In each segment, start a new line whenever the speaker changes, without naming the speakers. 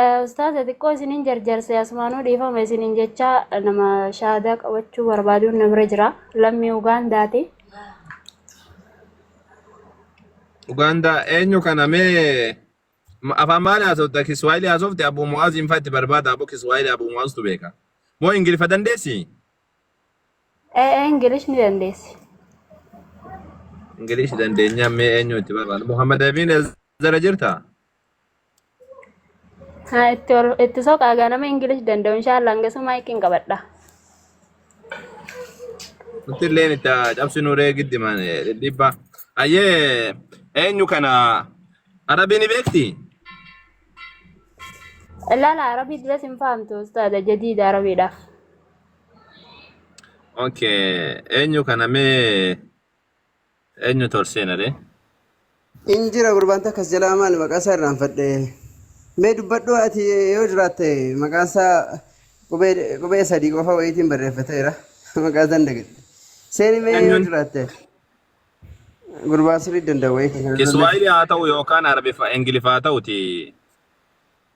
Eh, Ustaaza xiqqoo isinin jarjarse asumaanuu dhiifama isinin jecha nama shaadaa qabachuu barbaaduun na bira jira lammii Ugaandaati.
Ugaandaa eenyu kana mee ma- afaan maal haasofta kiswaayilii haasofte abbuu mu'aaz hin fatti barbaada abbuu kiswaayilii abbuu mu'aaztu beeka moo ingiliffa dandeessi Eh, eh,
Ingilish ni dandeessi.
ingilishi dandeenyaa mee eenyu itti barbaada muhammad abiin zara jirta
Haa itti ol itti soqaa gaa nama Ingilish danda'u inshaallah hangasuu maayikiin qabadha.
Nuti illee itti cabsinu ree giddi man dhibba. Ayyee eenyu kana arabii ni beekti?
Ilaala arabii duras hin fahamtu ustaaza jadiida arabiidhaaf.
Okay eenyu kana mee Eenyutu ol seena ree? Hin
jira gurbaan takka as jalaa maali maqaa isaa irraanfadhe. Mee dubbadhu ati yoo jiraatte maqaan isaa qubee qubee sadii qofa wayiitiin barreeffateera. Maqaa isaan dagadhe. Seeni mee yoo Eenyuun? jiraatte gurbaa sirrii danda'u wayii kan kana dura Kiswaayilii haa ta'u yookaan
Arabiffa Ingiliffa haa ta'uti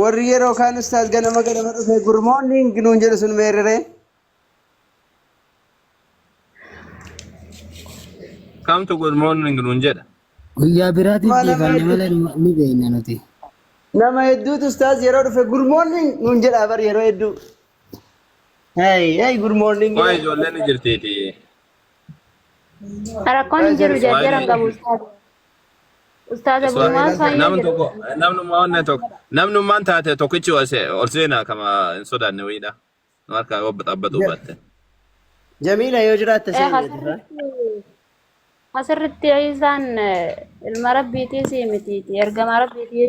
Warri yeroo kaan ustaaz ganama ganama dhufee good morning nuun jedhu sun meerreree.
Kamtu good morning nuun jedha. Guyyaa biraatiif
Mana dhiifanne meetii. malee
nu- ni
beekna nuti. Nama hedduutu
ustaaz yeroo dhufe good morning nuun jedhaa bar yeroo hedduu. Hey, hey, good morning. Waa'ee ijoolleen ni
jirtiiti.
Rakkoon hin jiru Waa'ee jarjaran qabu. ijoolleen- Ustaaza Iswa- Burumaan Iswa- Saanyoo namni jedhu. tokko namnummaa
onnee
tokko
namnummaan taate tokkichi ol se- ol seenaa kama hin sodaanne wayiidha nu harkaa yoo xabbatuu Ja- baatte Jamiila
yoo jiraatte Eh, seeneeti. asirratti
asirratti isaan eh, ilma rabbiitii sii mitiiti ergama rabbiitii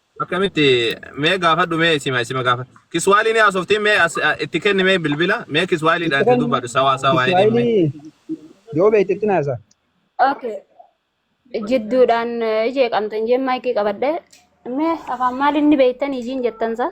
Akkamitti mee gaafadhu mee isima isima gaafa kiswaayilii ni haasoftiin mee as- a- itti kenni mee bilbila mee kiswaayiliidhaan itti dubbadhu sawaa sawaa jedhiin mee. Kiswaayilii
yoo beekte itti naasa. Okay.
Jidduudhaan eh, jeeqamtan jeen maayikii qabadhe. Mee afaan maaliin ni beektan ijiin jettansa?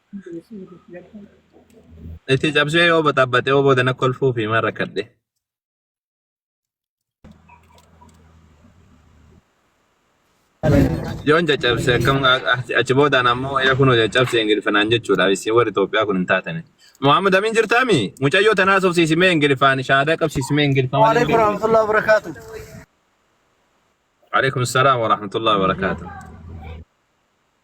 Itti cabsee yoo baxaabbaxe yoo booda na kolfuu fi maal rakkadhe. Yoon caccabse akkam achi boodaan ammoo yaa kunoo caccabse ingilifanaan jechuudha. Isin warri Itoophiyaa kun hin taatani. Muhammad Amin jirtaami? Mucayyoo tanaa sofsiisimee ingilifaan shaadaa qabsiisimee ingilifaan. Waalaikum warahmatullahi
wabarakatuh.
Alaikum salaam wa rahmatullahi wa barakaatuh.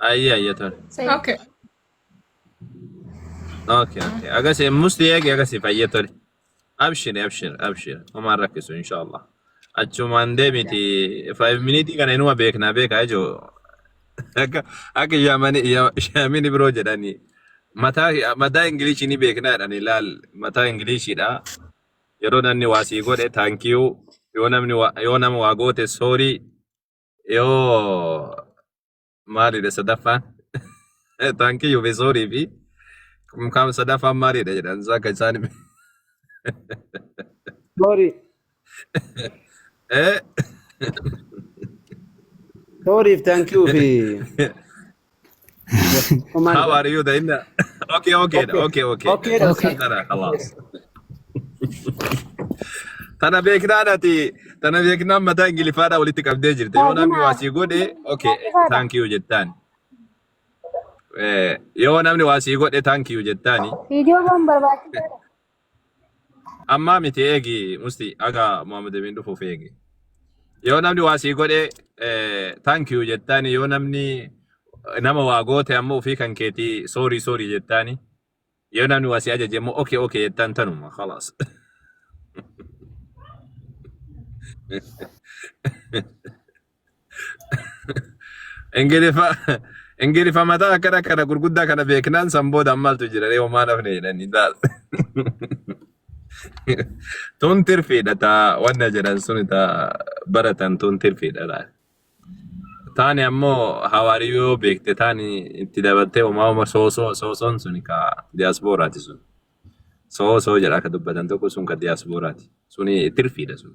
Ayya ayya tole. Say Okay. Okay okay. Agasii musti eegi agasii fayya tole. Abshir abshir abshir. Homaan rakkisu inshaallah. Achumaan deemiti 5 miniitii kana inuma beeknaa beekaa ijoo. Akka akka yaamani yaamini biroo jedhani. Mataa mataa ingiliishii ni beeknaa jedhani laal mataa ingiliishiidha. Yeroo namni waa sii godhe taankiyuu yoo namni waa- yoo nama waa goote soorii Yoo maalidha sadaffaan? Taankiyyu fi soorii fi kumkaam sadaffaan maalidha jedhan isaa akka isaan hime.
Soorii,
Eh?
sooriif taankiyuu fi
Omaan How are you da inna? Okay, okay, da, okay, okay. Okay,
da, okay. Tana khalas.
Tana beeknaa nati tana beeknaa mataa ingilifaadhaa walitti qabdee jirte. Yoo namni waa sii godhe okay thank you jettaan. Eh, Yoo namni waa sii godhe thank you jettaani. Viidiyoo waan barbaachisaadha. Ammaa miti eegi musti aga Muhammad Amin dhufuuf eegi. Yoo namni waa sii godhe eh, thank you jettaani yoo namni nama waa goote ammoo ofii kan keeti sorry sorry jettaani yoo namni waa sii ajaje ammoo okay okay jettaan tanuma khalaas. Ingiliffa Ingiliffa mataa akkana kana gurguddaa kana beeknaan san booda maaltu jira ree homaa nafne jedhanii laal. Tun tirfiidha taa wanna jedhan sun taa baratan tun tirfiidha laal. Taani ammoo hawaariyyoo beekte taani itti dabaltee homaa homa soosoo soosoon sun ka diyaaspooraati sun. Soosoo jedha akka dubbatan tokko sun ka diyaaspooraati. Suni tirfiidha sun.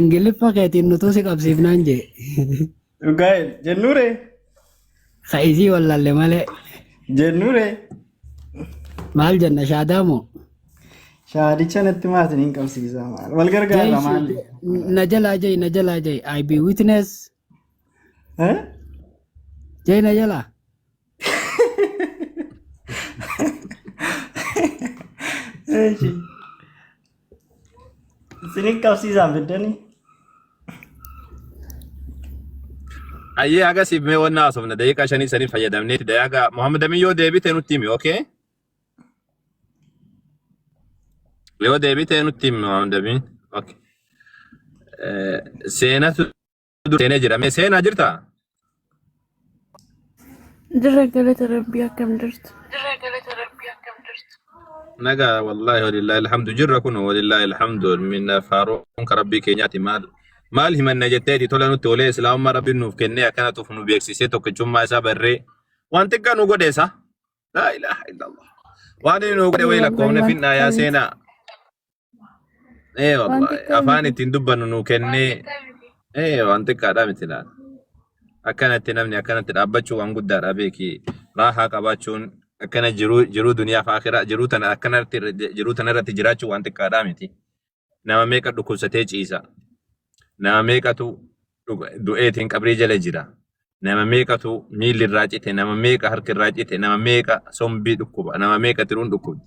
Ingiliffa
keetiin nutuu si qabsiifnaan jee. Dhugaa
jennuure Ka
isii wallalle malee. jennuure Maal jenna shaadaa moo?
shaadicha natti maatiin hin qabsiisaa maal wal gargaarra maali. Na jalaa
jai na jalaa jai I be witness. Eh? China jala.
Eeshi. Isinin qabsiisaan fiddanii?
Ayyee haga siif mee wanna haasofna daqiiqaa shanii sanii fayyadamneeti dayaaga Muhammad Amin yoo deebite nutti himi okay? Yoo deebite nutti himi Muhammad Amin okay. Eh, Seenatu dura seenee jira. Mee seenaa jirtaa?
Jirra galata rabbii akkam jirtu.
Nagaa wallaahi walillaahi alhamdu jirra kun walillaahi alhamdu minna faaruun ka rabbii keenyaati maal maal himanna jetteeti tola nutti olee islaamummaa rabbiin nuuf kennee akkana tuuf nu beeksisee tokkichummaa isaa barree waan xiqqaa nu godheessa laa ilaaha illallah waan inni nu godhe wayii lakkoofne finnaa yaa seenaa Ee Waan wallaahi xiqqaa afaan miti. ittiin dubbannu nuu kennee ee waan xiqqaadhaa miti laal. Akkanatti namni akkanatti dhaabbachuu waan guddaadha beeki. Raahaa qabaachuun akkana jiruu jiruu duniyaaf akiraa jiruu tana akkanatti irra- jiruu tana irratti jiraachuu waan xiqqaadhaa miti. Nama meeqa dhukkubsatee ciisa. Nama meeqatu dhuga- du'eetiin qabrii jala jira. Nama meeqatu miilli irraa cite, nama meeqa harki irraa cite, nama meeqa sombii dhukkuba, nama meeqa tiruun dhukkubdi,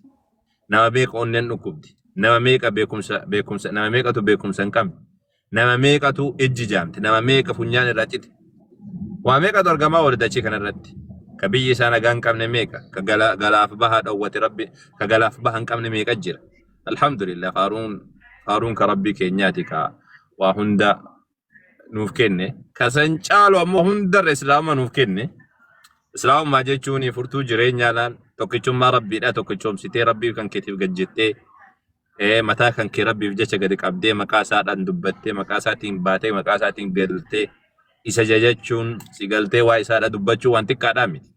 nama meeqa onneen dhukkubdi, nama meeqa beekumsa beekumsa nama meeqatu beekumsa hin qabne, nama meeqatu ijji jaamte, nama meeqa funyaan irraa cite. Waa meeqatu argamaa oole dachii kanarratti. Ka biyyi isaa nagaa hin qabne meeqa, ka gala- galaaf bahaa dhowwate rabbi, ka galaaf baha hin qabne meeqa jira. Alhamdulillah faaruun faaruun ka rabbii keenyaati ka waa hunda nuuf kenne kasan caalu ammoo hundarra islaama nuuf kenne islaamummaa jechuun furtuu jireenyaa laal tokkichummaa rabbiidha tokkichoomsitee rabbii kan keetiif gad jettee ee mataa kan kee rabbiif jecha gadi qabdee maqaa isaadhaan dubbattee maqaa isaatiin baatee maqaa isaatiin galtee isa jajachuun si galtee waa isaadha dubbachuu waan xiqqaadhaa miti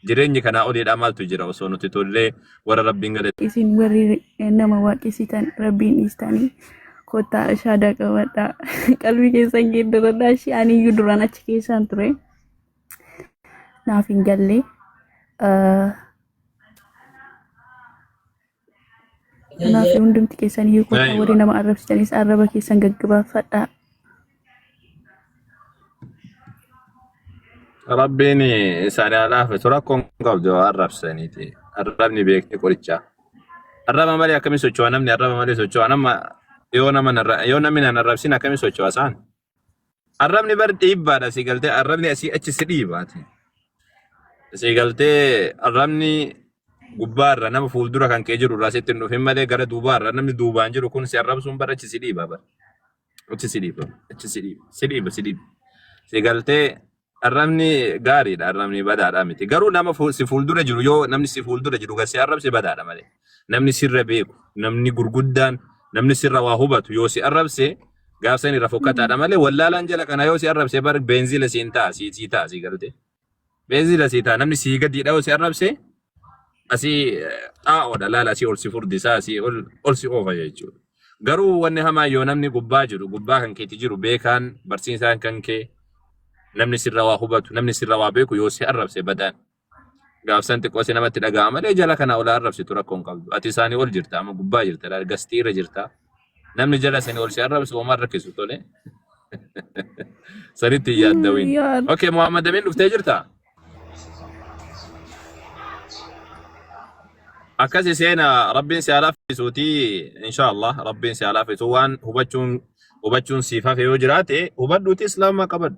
Jireenyi kanaa oliidhaa maaltu jira osoo nuti tollee warra rabbiin gale. isin warri
nama waaqessitan rabbiin dhiistanii kottaa shaadaa qabadhaa qalbii keessan geeddaradhaa ishee aniyyuu duraan achi keessaan ture naaf hin galle Ah, Kanaaf hundumti keessan hiikoota warri nama arrabsitanis arraba keessan gaggabaafadhaa.
Rabbiin isaanii haa laafisu rakkoon qabdu arrabsaniiti. Arrabni beekni qorichaa. Arraba malee akkamii socho'a namni arraba malee socho'a nama yoo nama yoo namni nan arrabsin akkamii socho'a isaan Arrabni bar dhiibbaadha si galtee arrabni asii achi si dhiibaati. Si galtee arrabni gubbaarra nama fuuldura kan kee jiru irraa sitti hin dhufin malee gara duubaarra namni duubaan jiru kun si arrabsuun bar achi si dhiiba bar. Achi si dhiiba achi si dhiiba si dhiiba si dhiiba. Si galtee Arrabni gaariidha, arrabni badaadha miti. Garuu nama fu- si fuuldura jiru yoo namni si fuuldura jiru gad si arrabse badaadha malee. Namni sirra beeku, namni gurguddaan, namni sirra waa hubatu yoo si arrabse gaafsan irra fokkataadha malee wallaalaan jala kana yoo si arrabse bar beenzila siin ta'a, sii sii ta'a sii galte. Beenzila sii ta'a namni sii gadiidha yoo si arrabse asii xaa'oodha laala asii ol si furdisa asii ol ol si oofa jechuudha. Garuu wanni hamaa yoo namni gubbaa jiru gubbaa kan keeti jiru beekaan barsiisaan kan kee namni sirra waa hubatu namni sirra waa beeku yoo si arrabse badaan gaafsan xiqqoo si namatti dhaga'ama malee jala kana olaa arrabsitu rakkoo hin qabdu. Ati isaanii ol jirta amma gubbaa jirta laal gastii irra jirta Namni jala seni ol si arrabsu homaa hin rakkisu tole. Sanitti hin yaaddawin. Yaa Okay, Muhammad Amin dhuftee jirta? Akkasi seena Rabbiin si haa laaffisuuti inshaallah Rabbiin si haa laaffisu waan hubachuun hubachuun siif hafe yoo jiraate hubadhuuti islaamummaa qabadhu.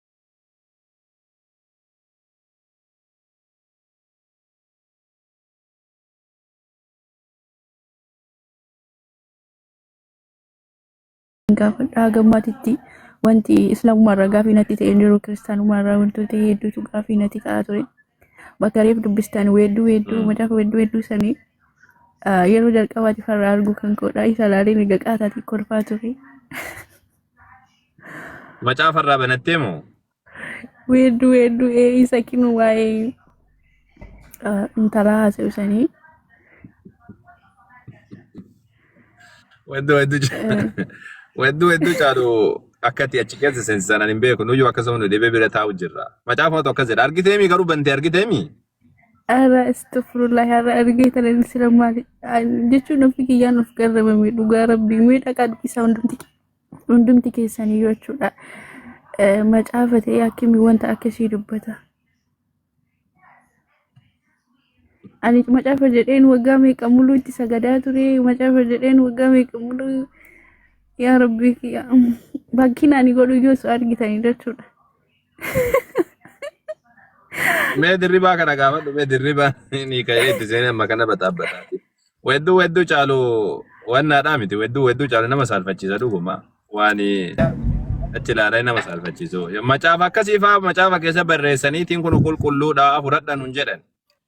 gaafadhaa gammaatitti wanti islaamummaa irraa gaafii natti ta'e hin jiru kiristaanummaa irraa wantoota hedduutu gaafii natti ta'aa ture. Bakka reef dubbistan weedduu weedduu macaafa weedduu weedduu sanii ah, yeroo jalqabaatiif har'a arguu kan koodha isa laalee miga qaataatiin kolfaa ture.
Macaafa irraa banattee moo? Weedduu
weedduu ee isa kinu waa'ee ah, intalaa haasa'u sanii.
Weedduu weedduu ca- Eh, weedduu weedduu caalu akkati achi keessa seensisan ani hin beeku. Nuyyuu akkasuma nu dhibee bira taa'u jirra. Macaafatu akkas jedha. Argiteemi garuu bantee argiteemi? Ara
astagfirullah ara argee tana inni sila maali jechuun ofii kiyyaan of garramame dhugaa rabbii mee dhaqaa dubbisaa hundumti hundumti keessanii yoo jechuudha Eh, macaafa ta'ee akkami wanta akkasii dubbata ani macaafa jedheen waggaa meeqa muluu itti sagadaa ture macaafa jedheen waggaa meeqa muluu yaa rabbii kiyya bakkiin ani godhu yoo su argitanii jechuudha
Mee dirribaa kana gaafadhu mee dirribaa ni ka'ee itti seenee amma kana baxaabbata. Wedduu wedduu caalu wannaadhaa miti wedduu wedduu caalu nama saalfachiisa dhuguma waan achi ilaalee nama saalfachiisu. Macaafa akkasii fa'aa macaafa keessa barreessaniitiin kun qulqulluudha fudhadha nun jedhan.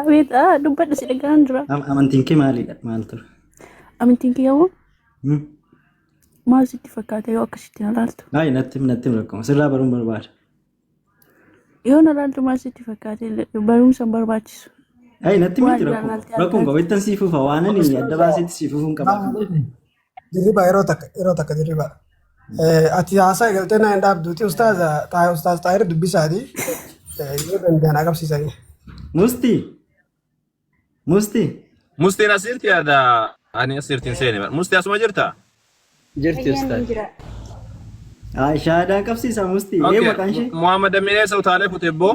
Abeet ah, dubbadhu si dhaga'aan jira. Am- Amantiin kee maalidha?
Maal ture? Amantiin kee
hoo Hmm? maal sitti fakkaata yoo akkasitti na laaltu? Baay'ee natti him- natti him rakkoo.
Sirraa baruun barbaada.
Yoo na laaltu maal sitti fakkaata? Barumsa hin barbaachisu. Baay'ee natti him Waan
natti rakkoo. jaallatee Rakkoon qaba. argaatu. Ittan sii fufa. Waan ani adda baaseetti sii fufuun qaba. Dirribaa
yeroo takka yeroo takka dirribaa. Eh, Ati haasaa galtee naa hin dhaabduuti ustaaza Xaa- ustaaz Xaahir dubbisaati. Eh, Yoo danda'an agarsiisanii. Musti.
Musti. Mustiin asirti yaada ani asirti hin seene bara. Musti asuma jirta? Jirti Fayyaan ustaad. hin jira.
Haa shaadaan
qabsiisa musti. Ee Okay. maqaan ishee. Muhammad Aminee isa utaalee
kute boo.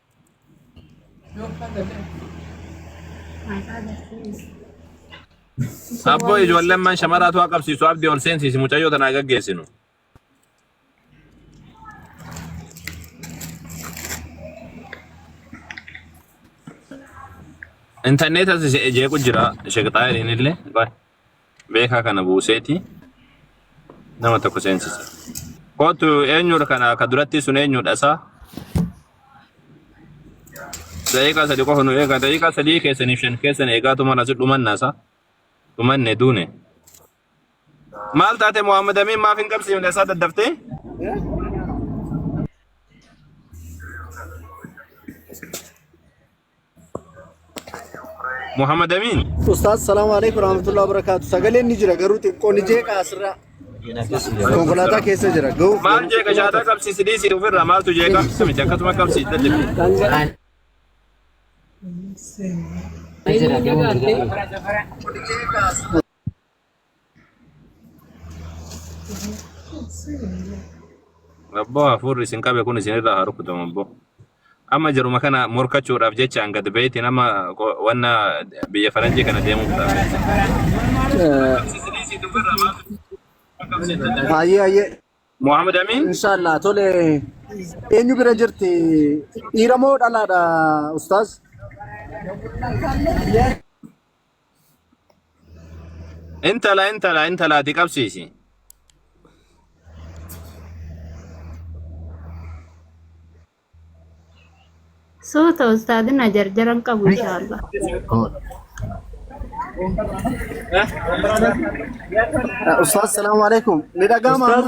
Abboo ijoolleen man shamaraatu haa qabsiisu abdii ol seensiisi mucayyoo tanaa gaggeessinu. Intarneetas jeequ jira sheeqxaa illee. beekaa kana buuseeti nama tokko seensisa. Kootu eenyudha kana ka duratti sun eenyudha isaa? Daqiiqaa sadii qofa nu eegaa daqiiqaa sadii keessaniif shan keessan eegaa tumaan asi dhumanna isaa dhumanne duune. Maal taate Muhammad Amiin maaf hin qabsiifne isaa daddaftee? Muhammad Amin. Ustaaz salaamu alaikum
rahmatullahi wabarakaatu. Sagaleen ni jira garuu xiqqoo ni jeeqa asirraa. Konkolaataa keessa jira. Ga'uuf Maal jeeqa shaataa
qabsiisi dhiisii ofirraa maaltu jeeqa miti akkasuma qabsiisa jechuudha. Jira, deemuun jira. Abboo hafuurri isin qabe kun isinirraa haa rukutamu abboo. Amma jaruma kana morkachuudhaaf jechaan gad ba'eeti nama qo- wanna biyya faranjii kana deemuuf ta'a.
Hayyee hayyee. Mohaammed
Amiin Inshaallah tole
eenyu bira jirti dhiira moo dhalaadha ustaaz?
Intala intala intala ati qabsiisi.
Suuta ustaadina jarjaran qabu inshaallah.
Ustaaz salaamu alaikum. Ni dhaga'ama. Ustaaz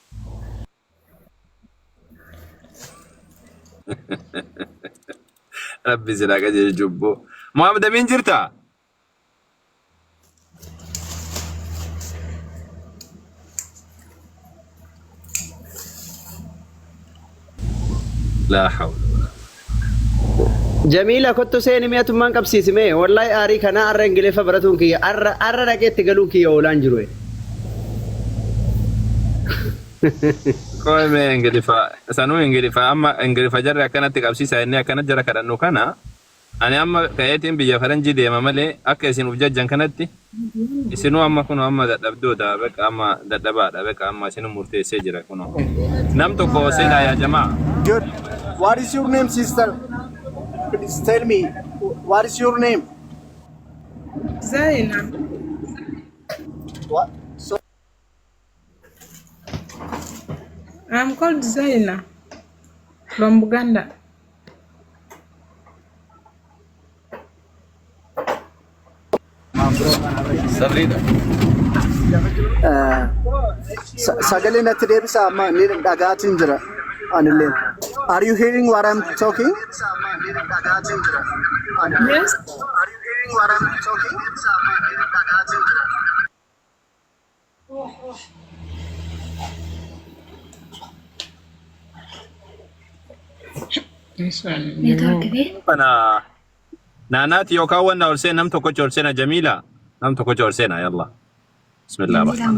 Rabbi sila qajeelchu jubbo. Muhammad Amin jirta? laa hawla walaa quwwata illaa billah.
Jamiila kottu seeni mee atummaan qabsiisi mee wallahi aarii kanaa arra ingiliffa baratuun kiyya arra arra dhaqee itti galuun kiyya oolaan jiru e.
Qoy mee ingilifa sanuu ingilifa amma ingilifa jarri akkanatti qabsiisa inni akkanatti jara kadhannu kana Ani amma ka'eetiin biyya faranjii deema malee akka isin uf jajjan kanatti isinuu amma kunoo amma dadhabdoota beqa amma dadhabaadha beqa amma isinuu murteessee jira kunoo nam tokko seenaa yaa jamaa. Good.
What is your name, sister? Please tell me. What is your name?
Zainab. What? I'm called Zaina from Buganda.
Sabrina. Sa- sagalee natti deebisa amma ni dhagaatiin jira anilleen. Are you hearing what I'm talking? Yes.
kana
naanaati yookaan wanna ol seena nam tokkocha ol seena jamiila nam tokkocha ol seena yalla bismillah rahmaan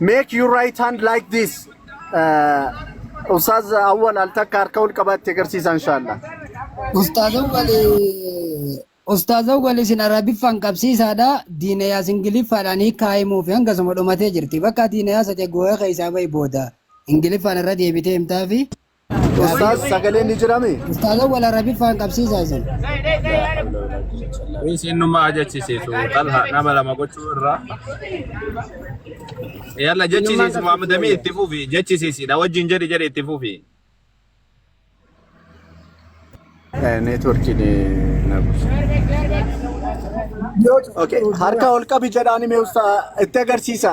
Make your right hand like this. Uh, Ustaz Awwal al takka harka ol qabaatti agarsiisa inshallah. Ustaaza wali
Ustaaza wali isin arabiffaan qabsiisaadha diina yaas ingiliffaadhaan hiikaa himuufi hanga suma dhumatee jirti bakka diina yaasa ta'e gooyee keessaa bahi booda ingiliffaan irra deebitee himtaafi Ustaaz
sagaleen ni jirame? Ustaaza wal arabiffaan
qabsiisaa isin.
Kunis innummaa ajechisiisu xalha nama lama gochuu irraa. Yalla jechisiisi Muhammadamii itti fufi jechisiisidha wajjin jedhi jedhi itti fufi.
Neetworkiin na buusa. Okay. Harka ol qabi jedhaani mee usta itti agarsiisa.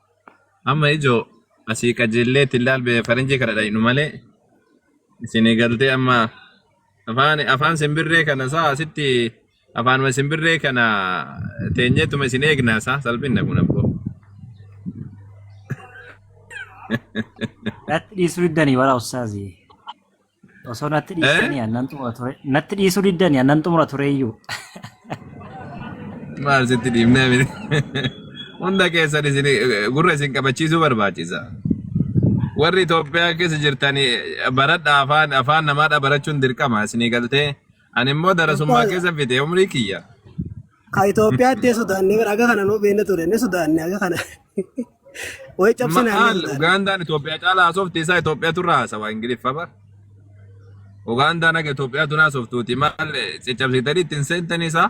Amma ijoo asii qajeellee ittiin laalbee faranjii kana dhaynu malee isinii galtee amma afaan afaan simbirree kana isaa asitti afaanuma simbirree kana teenyeetuma isin eegna isaa salphinna kun abboo.
Dhatti dhiisuu iddanii waraa ustaazii. Osoo natti Eh? dhiistanii annan xumura ture. Natti dhiisuu diddanii annan xumura tureeyyuu.
Maal sitti dhiibnee miti. Hunda keessan isin gurra isin qabachiisuu barbaachisa. Warri Itoophiyaa keessa jirtanii baradha afaan afaan namaadha barachuun dirqama isinii galtee Ani immoo darasummaa Ustaaza, keessa fite umrii kiyya. ka
Itoophiyaatti hin sodaanne bara aga kana nuu beekne ture ni sodaanne aga kana. Wayi cabsinaan ni Maal sodaanne. Ugaandaan
Itoophiyaa caalaa haasofti isaa Itoophiyaatu irraa haasawaa Ingiliffa bar. Ugaandaan akka Itoophiyaatu naa haasoftuuti maal caccabsiitanii ittiin seentanii isaa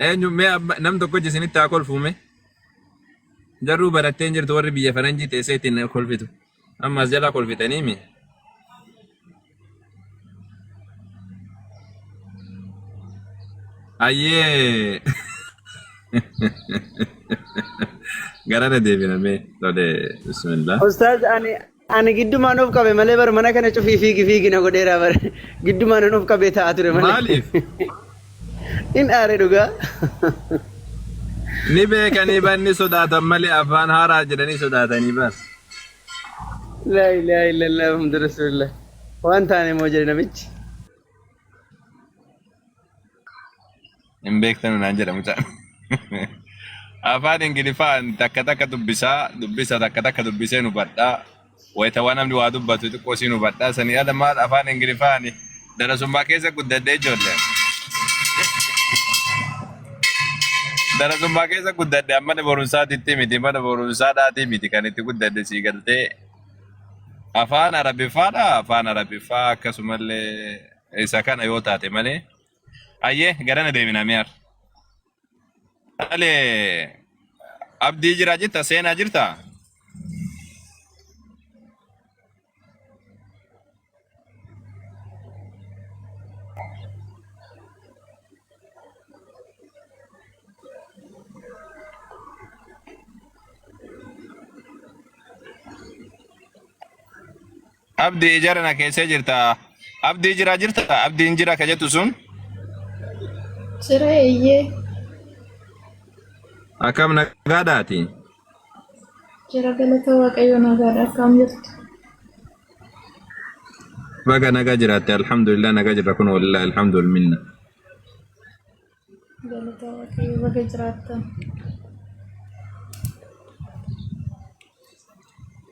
eenyu mee amma nam tokko isinitti haa kolfuume jarruu barattee hin jirtu warri biyya faranjii teessee ittiin kolfitu. Amma as jalaa kolfitanii mi? Ayyee! Gara na deebina mee tole bismillah. Ustaaz ani
ani giddumaan of qabe malee bar mana kana cufii fiigi fiigi na godheera bar giddumaan an of qabee taa'aa ture malee. Maaliif? In aare dhugaa.
Ni beekanii bar ni sodaatan malee afaan haaraa jedhanii sodaatanii bar.
laa ilaaha illallah muhammadu rasulillah waan taane moo jedhe namichi
Hin beektanu naan jedha mucaan. Afaan Ingiliffaan takka takka dubbisaa, dubbisa takka takka dubbisee nu badhaa. Wayita waan namni waa dubbatu xiqqoo siin hubadhaa. Sanii ala maal afaan Ingiliffaan Darasummaa keessa guddadhee ijoollee. Darasummaa keessa guddadhe amma mana barumsaatitti miti mana barumsaadhaatii miti kan itti guddadhe sii galtee afaan arabiffaadha afaan arabiffaa akkasumallee isa kana yoo taate malee ayyee garana deemina mi'aar dhalee abdii jiraa jirta seenaa jirta Abdi ijara na keessa jirta. Abdi jira jirta. Abdi hin jira ka jettu sun.
Jira eeyyee.
Akkam nagaadhaati.
Jira galata waaqayyo nagaadha akkam jirtu.
Baga nagaa jiraatte alhamdulillah nagaa jirra kun walillahi alhamdul minna.
Galata waaqayyo baga jiraattan.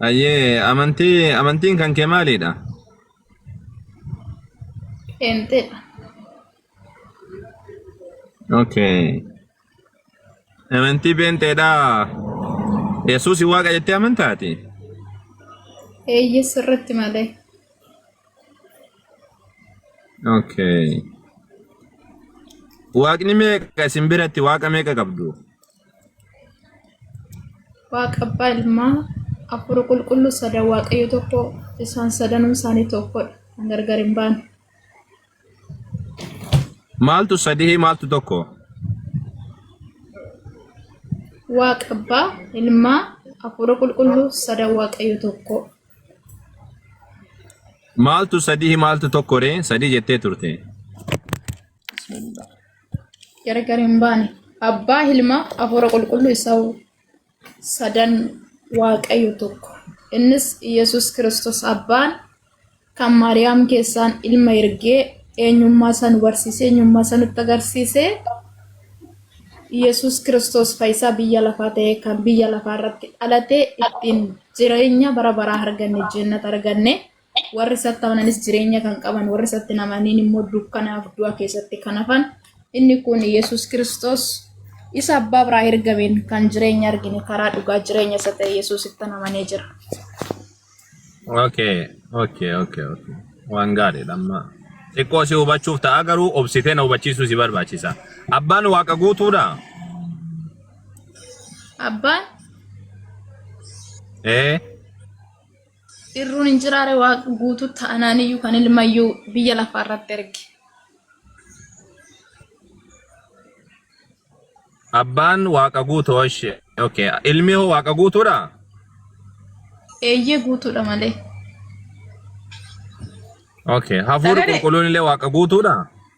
Ayyee amantii amantiin kan kee maalidha?
Qeenxeedha.
Okay. Amantii beenteedhaa. Yesuus waaqa jettee amantaati.
Eeyyee sirriitti malee.
Okay. Waaqni meeqa isin biratti waaqa meeqa qabdu?
Waaqa abbaa ilmaa afur qulqulluu sadan waaqayyo tokko isaan sadanuu isaanii tokkodha kan gargar hin baane.
Maaltu sadihii maaltu tokko?
Waaqa abbaa, ilmaa, hafuura qulqulluu, sada waaqayyo tokko.
Maaltu sadihii maaltu tokko ree? Sadii jettee turte.
Gargar hin baane. Abbaa, ilmaa, hafuura qulqulluu isa sadan waaqayyo tokko innis yesus kristos abbaan kan maariyaam keessaan ilma ergee eenyummaa isaa nu barsiisee eenyummaa isaa nutti agarsiisee yesus kristos faayisaa biyya lafaa ta'ee kan biyya lafaa irratti dhalatee ittiin jireenya bara baraa arganne jennata arganne warri isatti amananis jireenya kan qaban, warri isatti hin amanin immoo dukkanaaf du'a keessatti kan hafan. Inni kun Yesus Kiristoos isa abbaa biraa ergameen kan jireenya argine karaa dhugaa jireenya isa ta'e Yesusitti amanee jira. Okay,
okay, okay, okay. Waan gaariidha amma. Xiqqoo si hubachuuf ta'a garuu obsitee na hubachiisuu si barbaachisa. Abbaan waaqa guutuudha. Abbaan
Ee, Irruun hin jiraare waaqni guutuu ta'anaan iyyuu kan ilmayyuu biyya lafaa irratti erge.
Abbaan waaqa guutuu ishee. Okay. Ilmi hoo waaqa guutuudha?
Eeyyee guutuudha malee.
Okay. Hafuurri Sagalee. qulqulluun illee waaqa guutuudha?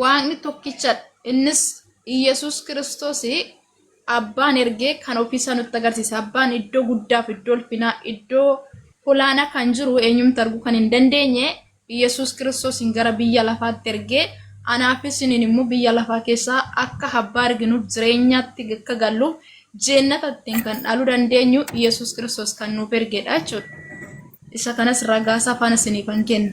Waaqni tokkichadha. Innis Iyyasuus Kiristoos abbaan ergee kan ofiisaa nutti agarsiise. Abbaan iddoo guddaaf iddoo ulfinaa iddoo olaanaa kan jiru eenyumti arguu kan hin dandeenye Iyyasuus Kiristoosiin gara biyya lafaatti ergee anaafis isiniin immoo biyya lafaa keessaa akka abbaa arginuuf jireenyaatti akka galluuf jeennata ittiin kan dhaaluu dandeenyu Iyyasuus Kiristoos kan nuuf ergedha jechuudha. Isa kanas ragaasaa faana isiniifan kenna.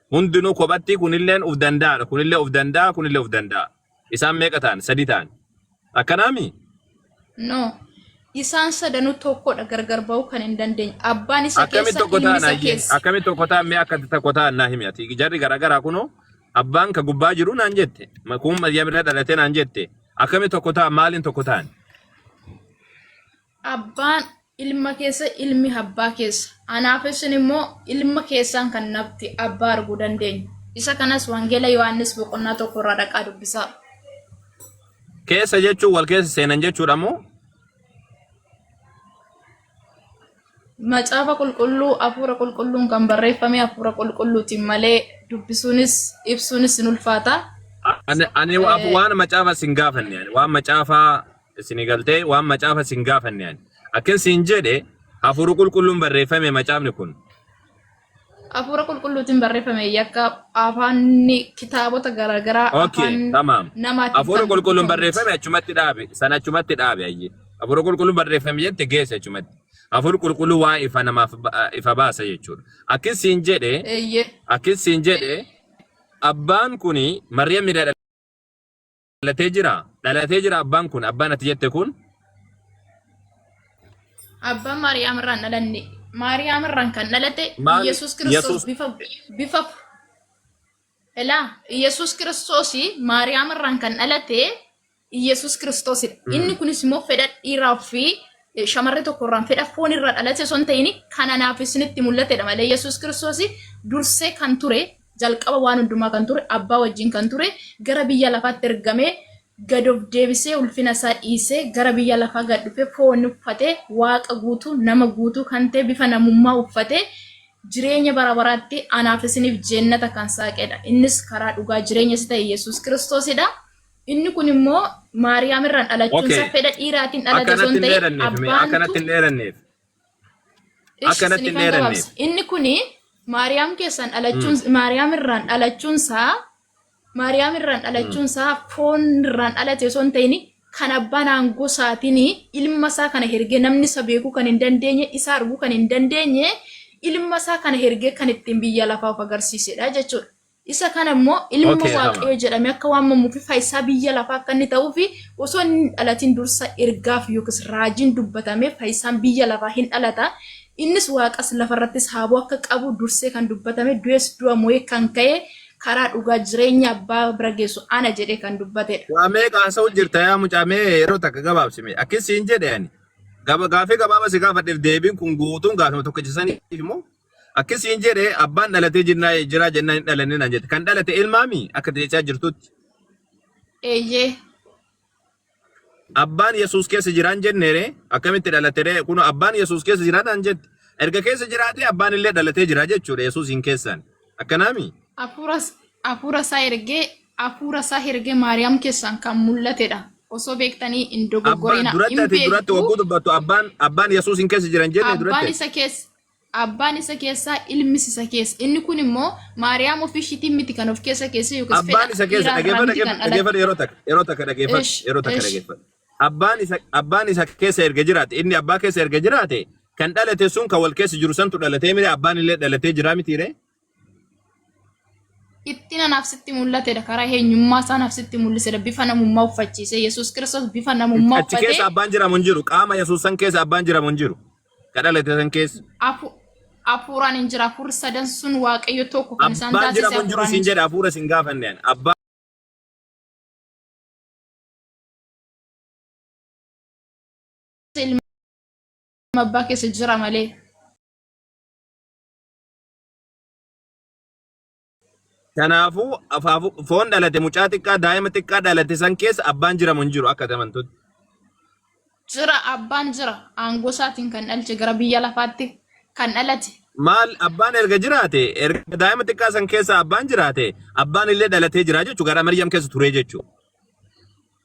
Hundinuu kophattii kunilleen uf danda'aadha. Kunillee uf danda'a, kunillee uf danda'a. Isaan meeqa ta'an? Sadii ta'an. Akkanaami?
No. Isaan sadanuu tokkodha gargar ba'uu kan hin dandeenye. Abbaan isa Akkamitti keessa, tokko ilmi ta'an isa ayyee? keessa.
Akkamitti tokko ta'an mee akka tokko ta'an naa himi ati. Jarri garaagaraa kunoo abbaan ka gubbaa jiru naan jette. Ma- Kun Maryam irra dhalate naan jette. Akkamitti tokko ta'an maaliin tokko ta'an?
Abbaan ilma keessa, ilmi abbaa keessa. Anaaf isin immoo ilma keessaan kan nafti abbaa arguu dandeenyu. Isa kanas Wangeela Yohaannis boqonnaa tokko irraa dhaqaa dubbisaa.
Keessa jechuun wal keessa seenan jechuudha moo?
Macaafa qulqulluu hafuura qulqulluun kan barreeffame hafuura qulqulluutiin malee dubbisuunis ibsuunis hin ulfaata. Ani, ani
wa- waan macaafa sin gaafanne ani waan macaafa Isinii galtee waan macaafa isin gaafanne ani. Akkin siin jedhe hafuuru qulqulluun barreeffame macaafni kun.
Hafuura qulqulluutiin barreeffame yakka afaanni kitaabota garaagaraa Okay, afaan tamaam.
namaatiin Hafuura kan
qulqulluun dubbifame miti.
barreeffame achumatti dhaabe. San achumatti dhaabe ayyee. Hafuura qulqulluun barreeffame jette geesse achumatti. Hafuurri qulqulluu waan ifa namaaf ba- ifa baasa jechuudha. Akkin siin jedhe Eeyyee. akkin siin jedhe abbaan kuni Maryam irraa dhalatee jira dhalatee jira abbaan kun abbaan ati jette kun
Abbaan Maariyaam irraan dhalanne. Maariyaam irraan kan dhalate Maal- Yesuus Yesuus- Kiristoos bifa bifa Elaa Yesuus Kiristoos Maariyaam irraan kan dhalate Yesuus Kiristoosidha. Inni kunis immoo fedha dhiiraa fi eh, shamarree tokko irraan fedha foon irraa dhalate osoo hin ta'in kan anaaf isinitti mul'atedha malee Yesuus Kiristoos dursee kan ture Jalqaba waan hundumaa kan ture, Abbaa wajjin kan ture, gara biyya lafaatti ergamee, gad of deebisee, ulfina isaa dhiisee, gara biyya lafaa gad dhufee, foon uffatee, Waaqa guutuu, nama guutuu kan ta'e, bifa namummaa uffatee, jireenya bara baraatti anaaf isiniif jeennata kan saaqedha. Innis karaa dhugaa jireenya isa ta'e Yesuus Kiristoosidha. Inni kun immoo Maariyaam irraan dhalachuun Okay. isaa fedha dhiiraatiin dhalate osoo Akkanatti hin hin ta'in dheeranneef, mee akkanatti abbaantu hin dheeranneef.
Ishi Akkanatti isinii hin kan dheeranneef. gabaabse. Inni kuni
Maariyaam keessan dhalachuun Maariyaam irraan dhalachuun isaa Maariyaam irraan dhalachuun isaa foon irraan dhalate osoo hin ta'in kan abbaan aangoo isaatiin ilma isaa kana hergee namni isa beekuu kan hin dandeenye isa arguu kan hin dandeenye ilma isaa kana hergee kan ittiin biyya lafaa of agarsiisedha jechuudha. Isa kana immoo ilma Okay, Hama. waaqayyoo jedhamee akka waamamuu fi faayisaa biyya lafaa akka inni ta'uu fi osoo inni hin dhalatin dursa ergaaf yookiis raajiin dubbatamee faayisaan biyya lafaa hin dhalata. Innis waaqas lafarrattis haaboo akka qabu dursee kan dubbatame du'es du'a mo'ee kan ka'e karaa dhugaa jireenya abbaa bira geessu ana jedhee kan dubbatedha. Waa meeqa haasa'u
jirta yaa mucaa mee yeroo takka gabaabsime. Akkis siin jedhe ani. Gaba gaafii gabaaba si gaafadheef deebiin kun guutuun gaafima tokkicha saniif immoo Akki siin jedhe abbaan dhalatee jirnaa jiraa jennaan hin dhalanne naan jette. Kan dhalate ilmaami akka ati jechaa jirtutti.
Eeyyee.
Abbaan Yesuus keessa jiraan jenneere akkamitti dhalatere kun abbaan Yesuus keessa jiraa naan jette. Erga keessa jiraatee abbaan illee dhalatee jira jechuudha Yesuusiin keessaan. Akkanaami. Hafuura
hafuura isaa ergee hafuura isaa ergee Maariyaam keessaan kan mul'atedha. Osoo beektanii hin Abbaan dogoggorina duratti hin ati duratti beektu. wagguu
dubbattu abbaan abbaan Yesuusiin keessa jiran jenne Abbaan duratti. isa keessa Abbaan
isa keessa, ilmis isa keessa. Inni kun immoo Maariyaam ofii ishiitiin miti kan of keessa keessee yookiis Abbaan fedha isa keessa dhiiraa irraa
dhageeffadha miti kan dhageeffadha dhalatte. yeroo takka yeroo takka dhageeffadha Ish, yeroo takka ish. dhageeffadha. Abbaan isa abbaan isa keessa erga jiraate inni abbaa keessa erga jiraate kan dhalate sun kan wal keessa jiru santu dhalatee miti abbaan illee dhalatee jira miti ree.
Dhiptina naaf sitti mul'atedha. Karaa eenyummaa isaa naaf sitti mul'isedha. Bifa namummaa uffachiise. Yesuus Kiristoos bifa namummaa Achi keessa uffatee abbaan jiramu hin jiru.
Qaama Yesuus san keessa abbaan jiramu hin jiru. Ka dhalate san keessa. afu- hafuuraan
hin jira. Hafuurri sadan sun Waaqayyo tokko kan isaan Abbaan taasise jiramu hin jiru hafuuraan hin siin jira.
jedha hafuura siin gaafanne
ani.
Abbaan
Ilma abbaa keessa jira malee.
Kanaafuu afaafu- foon dhalate mucaa xiqqaa daa'ima xiqqaa dhalate san keessa abbaan jiramu hin jiru akka ati amantutti.
Jira abbaan jira aangoo isaatiin kan dhalche gara biyya lafaatti kan dhalate. Maal abbaan
erga jiraate erga daa'ima xiqqaa san keessa abbaan jiraate abbaan illee dhalatee jira jechuudha gara Maryam keessa turee jechuudha.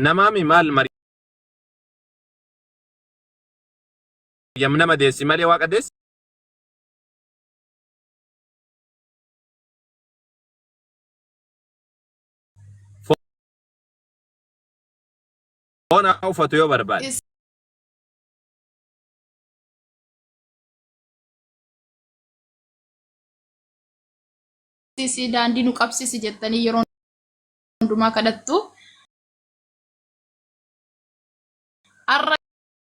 Namaami maal Maryam nama deessi malee waaqa deessi. Foon haa uffatu yoo barbaade.
qabsiisi daandii nu qabsiisi jettanii yeroo hundumaa kadhattu. Har'a